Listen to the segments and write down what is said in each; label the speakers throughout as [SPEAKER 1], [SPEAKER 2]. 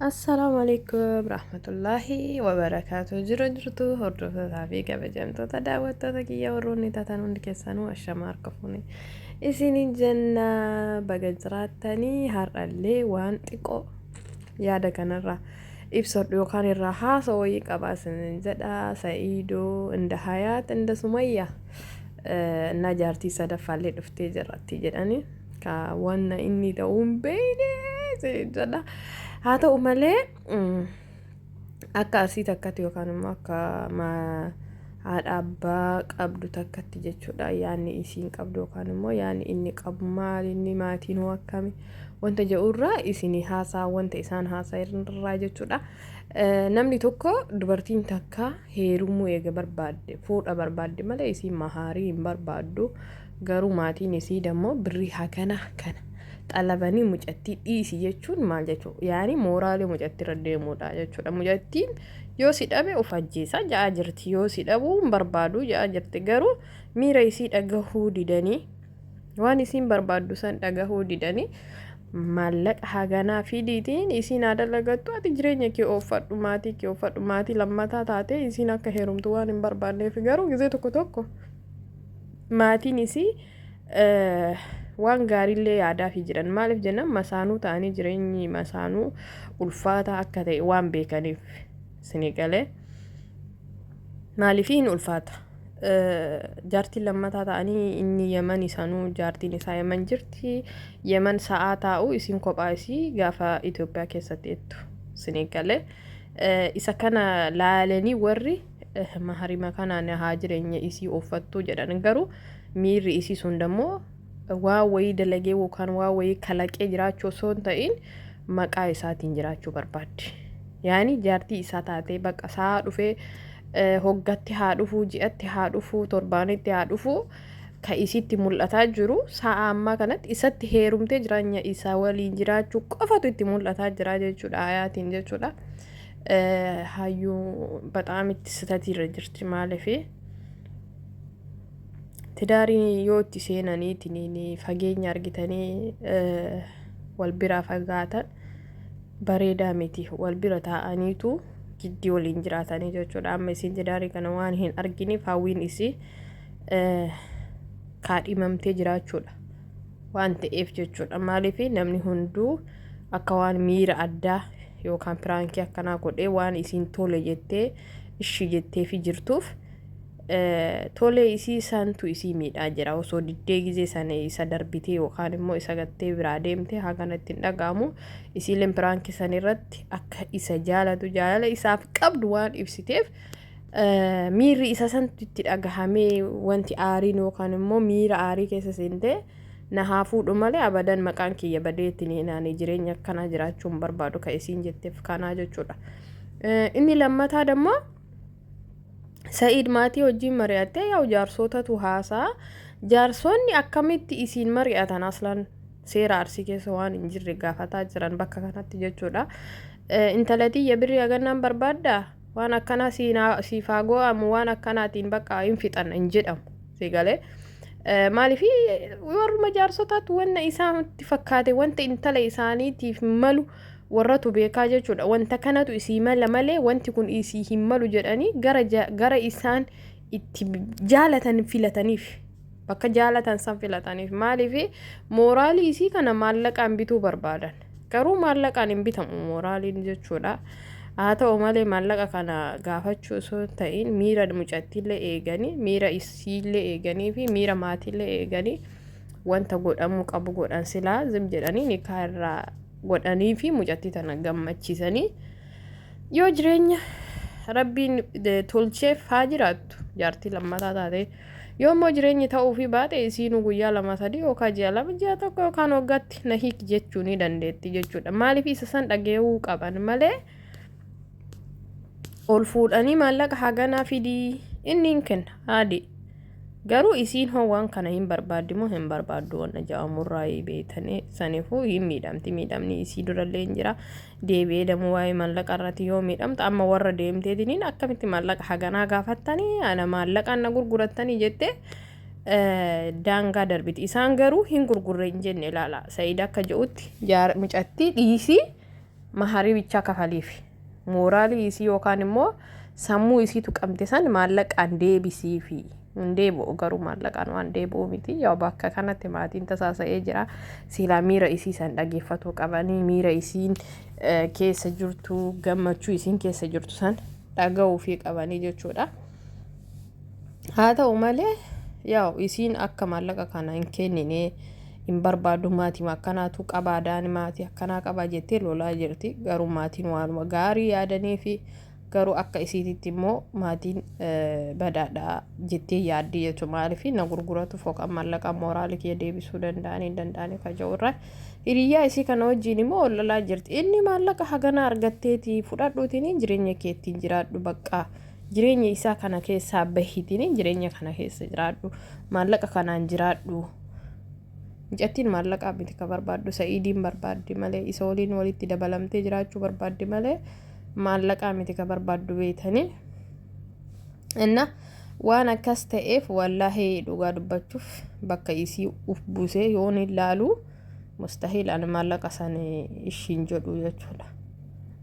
[SPEAKER 1] Assalaamu alaikum rahmatullaahi wabarakaatu jira jirtu hordoftotaa fi kabajamtoota daawwattoota kiyya warroonni taatan hundi keessanuu ashama harka fuune isiniin jenna baga jiraattanii har'allee waan xiqqoo yaada kanarraa ibsadhu yookaan irraa haasa wayii qabaa isiniin jedha sa'iidoo inda hayaat inda sumayya na jaartii sadaffaallee dhuftee jirratti jedhanii Ka wanna inni ta'uu hin beekne siin jedha. Haa ta'u malee mm, akka arsii takkatti yookaan immoo akka ma- haadha abbaa qabdu takkatti jechuudha yaanni isiin qabdu yookaan immoo yaanni inni qabu maal inni maatiin hoo akkami wanta jedhurraa isin haasaa wanta isaan haasaa irraa jechuudha. Eh, Namni tokko dubartiin takka heerumuu eega barbaadde fuudha barbaadde malee isiin mahaarii hin barbaaddu Garuu maatiin isii dammo birrii hagana kana xalabanii mucattii dhiisi jechuun maal jechuu yaani mooraalii mucattii irra deemuudha jechuudha mucattiin yoo si dhabe of ajjeesaa ja'aa jirti yoo si dhabuu hin barbaaduu ja'aa jirti garuu miira isii dhagahuu didanii waan isiin barbaaddu san dhagahuu didanii maallaqa haganaa fidiitiin isiin haa dalagattu ati jireenya kee ooffadhu maatii kee ooffadhu maatii lammataa taatee isiin akka heerumtu waan hin barbaanneef garuu gizee tokko tokko maatiin isii waan gaariillee yaadaafii jiran maaliif jennaan masaanuu ta'anii jireenyi masaanuu ulfaataa akka ta'e waan beekaniif isinii galee maaliif hin ulfaata jaartiin lammataa ta'anii inni yeman isaanuu jaartiin isaa yeman jirti yeman sa'aa taa'u isin kophaa isii gaafa Itoophiyaa keessatti jettu isinii galee isa kana laalanii warri maharima kanaan haa jireenya isii ooffattuu jedhan garuu miirri isii sun dammoo waa wayii dalagee yookaan waa wayii kalaqee jiraachuu osoo hin ta'in maqaa isaatiin jiraachuu barbaaddi. Yaani jaartii isaa taatee bakka isaa dhufee hoggatti haa dhufuu ji'atti haa dhufuu torbaanitti haa dhufuu ka isitti mul'ataa jiru sa'a ammaa kanatti isatti heerumtee jiraanya isaa waliin jiraachuu qofatu itti mul'ataa jira jechuudha ayaatiin jechuudha. hayyuu baxaam itti sitatii irra jirti maalifi tidaarii yoo itti seenanii ittiin fageenya argitanii wal biraa fagaatan bareedaa miti wal bira taa'aniitu jiddii waliin jiraatanii jechuudha amma isiin tidaarii kana waan hin arginiif hawwiin isii kaadhimamtee jiraachuudha. waan ta'eef jechuudha maaliif namni hunduu akka waan miira addaa yookaan piraankii akkanaa godhee waan isiin tole jettee ishii jettee fi jirtuuf tolee isii santu isii miidhaa jira osoo diddee gizee sana isa darbitee yookaan immoo isa gattee biraa deemtee haganatti hin dhaga'amu isiileen piraankii san irratti akka isa jaalatu jaalala isaaf qabdu waan ibsiteef miirri isa santu itti dhagahamee wanti aariin yookaan immoo miira aarii keessa seentee na haa fuudhu malee abadan maqaan kiyya badee itti naanee jireenya akkanaa jiraachuu hin barbaadu kan isiin jetteef kanaa jechuudha. Inni lammataa dammoo Sa'iid maatii wajjin mari'attee yaa jaarsootatu haasaa jaarsoonni akkamitti isiin mari'atan aslan seera arsii keessa waan hin jirre gaafataa jiran bakka kanatti jechuudha. Intalatii ya birrii hagannaan barbaaddaa? waan akkanaa siif haa goo'amu waan akkanaatiin bakka hin fixan hin jedhamu si galee. Maaliif warruma jaarsotaatu wanna isaanitti fakkaate wanta intala isaaniitiif malu warratu beekaa jechuudha. Wanta kanatu isii mala malee wanti kun isii hin malu jedhanii gara, gara isaan itti jaalatan filataniif. Bakka jaalatan san filataniif. Maaliif mooraalii isii kana maallaqaan bituu barbaadan. Garuu maallaqaan hin bitamu mooraaliin jechuudha. Haa ta'u malee maallaqa kana gaafachuu osoo hin ta'in miira mucattiillee eeganii miira isiillee eeganii fi miira maatiillee eeganii wanta godhamuu qabu godhan silaa zim jedhanii nikaa irraa godhanii fi mucattii tana gammachiisanii yoo jireenya rabbiin tolcheef haa jiraattu jaartii lammataa taatee. Yoo immoo jireenyi ta'uufii baate isiinuu guyyaa lama sadii yookaan ji'a lama ji'a tokko yookaan waggaatti na hiiki jechuu ni dandeetti jechuudha. Maaliif isa san dhaga'uu qaban malee ol fuudhanii maallaqa haganaa fidii inni hin kenna haadhi. Garuu isiin hoo waan kana hin barbaaddi moo hin barbaaddu wanna ja'amurraa beeytanii saniifuu hin miidhamti miidhamni isii durallee hin jira. deebi'ee damuu waa'ee mallaqa irratti yoo miidhamtu amma warra deemteetiniin akkamitti mallaqa haganaa gaafattanii ana maallaqaan na gurgurattanii jettee eh, daangaa darbiti isaan garuu hin gurgurre hin jenne ilaala sa'iid akka je'utti jaar- micattii dhiisii maharii bichaa kafaliif mooraalii isii yookaan immoo Sammuu isii tuqamte san maallaqaan deebisiifi. Hin deebi'u garuu maallaqaan waan deebi'u miti. Yoo bakka kanatti maatiin tasaasa'ee jira. Siilaa miira isii san dhageeffatuu qabanii miira isiin keessa jirtu gammachuu isiin keessa jirtu san dhaga'uufii qabanii jechuudha. Haa ta'u malee yaa'u isiin akka maallaqa kana hin kennine hin barbaadu maatii akkanaatu qabaa daani maatii akkanaa qabaa jettee lolaa jirti garuu maatiin waanuma gaarii yaadanii fi garuu akka isiititti immoo maatiin badaadha jettee yaaddi jechuudha maaliif na gurguratu fooqaan maallaqa mooraalii kiyya deebisuu danda'anii hin danda'anii kaja'u irraa hiriyyaa isii kana wajjin immoo ol lolaa jirti inni maallaqa hagana argatteeti fudhadhuutiin jireenya keettiin jiraadhu baqqaa. Jireenya isaa kana keessaa bahiitiin jireenya kana keessa jiraadhu. Maallaqa kanaan jiraadhu. Mucattiin maallaqaa miti ka barbaaddu sa'iidiin barbaaddi malee isa waliin walitti dabalamtee jiraachuu barbaaddi malee maallaqaa miti ka barbaaddu beeytanii. Inna waan akkas ta'eef wallaahi dhugaa dubbachuuf bakka isii uf buusee yoon ilaalu mustahiil ani maallaqa san ishiin jedhu jechuudha.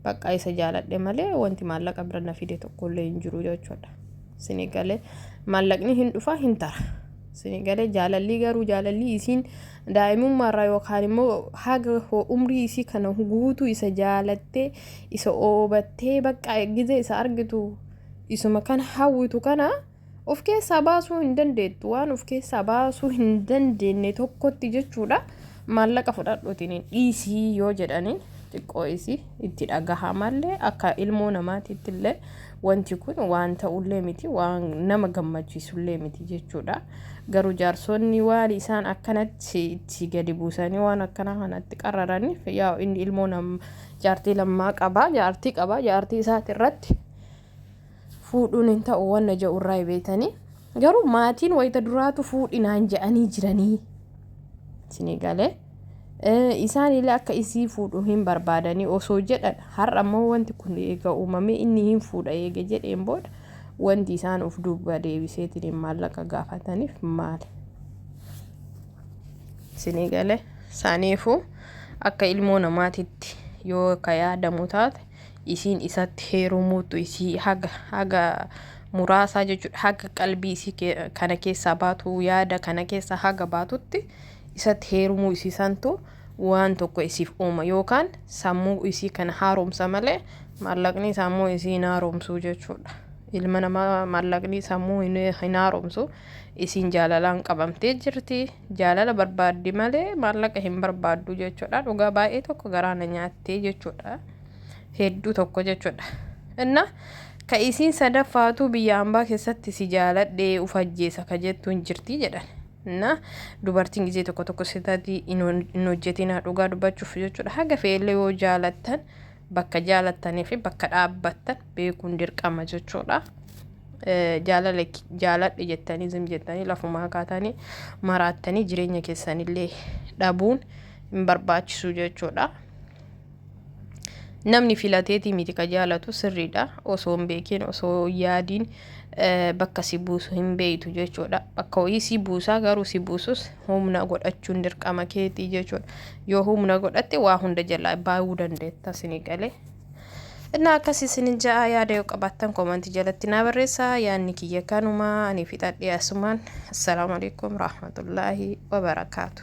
[SPEAKER 1] Baqqaa isa jaaladhe malee wanti maallaqa bira na fide tokkollee hin jiru jechuudha. Sini galee maallaqni hin dhufa hin tara. Sini galee jaalallii garuu jaalallii isiin daa'imummaarraa yookaan immoo haga umrii isii kana guutuu isa jaalattee isa oobattee baqqaa gizee isa argitu isuma kana hawwitu kana Of keessaa baasuu hin dandeettu waan of keessaa baasuu hin dandeenye tokkotti jechuudha maallaqa fudhadhuutiin hin dhiisii yoo jedhaniin xiqqoo isii itti dhagahamallee akka ilmoo namaatiitti illee wanti kun waan ta'ullee miti waan nama gammachiisullee miti jechuudha garuu jaarsonni waan isaan akkanatti itti gadi buusanii waan akkanaa kanatti qararaniif yaa inni ilmoo nam jaartii lammaa qabaa jaartii qabaa jaartii isaati irratti fuudhuun hin ta'u wanna ja'u irraa beeytanii garuu maatiin wayita duraatu fuudhinaan ja'anii jiranii isinii galee isaaniillee akka isii fuudhu hin barbaadanii osoo jedhan har'a immoo wanti kun eega uumamee inni hin fuudha eega jedheen booda wanti isaan of duuba deebiseetiin maallaqa gaafataniif maali isinii galee saaniifuu akka ilmoo namaatitti yoo ka yaadamu taate isiin isatti heerumuuttu isii haga haga muraasaa jechuudha haga qalbii isii kana keessaa baatu yaada kana keessaa haga baatutti isatti heerumuu isii santu waan tokko isiif uuma yookaan sammuu isii kana haaromsa malee maallaqni sammuu isii hin haaromsuu jechuudha. Ilma namaa maallaqni sammuu hin haaromsu isiin jaalalaan qabamtee jirti jaalala barbaaddi malee maallaqa hin barbaaddu jechuudha dhugaa baay'ee tokko garaana nyaattee jechuudha. hedduu tokko jechuudha. Inna ka isiin sadaffaatuu biyya ambaa keessatti si jaaladhee uf ajjeesa ka jettu hin jirti jedhan. Inna dubartiin gizee tokko tokko sitati hin hojjetinaa dhugaa dubbachuuf jechuudha. Haga fe'ellee yoo jaalattan bakka jaalattanii fi bakka dhaabbattan beekuun dirqama jechuudha. Jaalala jaaladhe jettanii zim jettanii lafumaa kaatanii maraattanii jireenya keessanillee dhabuun hin barbaachisu jechuudha. namni filateetii miti ka jaalatu sirriidha osoo hin beekin osoo hin yaadiin eh, bakka si buusu hin beeytu jechuudha bakka wayii si buusaa garuu si buusus humna godhachuun dirqama keetii jechuudha yoo humna godhatte waa hunda jalaa baay'uu dandeetta sini galee Innaa akkas isin ja'a yaada yoo qabaattan koomantii jalatti naa barreessaa yaadni kiyya kanuma ani fixadhee asumaan assalaamu alaikum rahmatullaahi wabarakaatu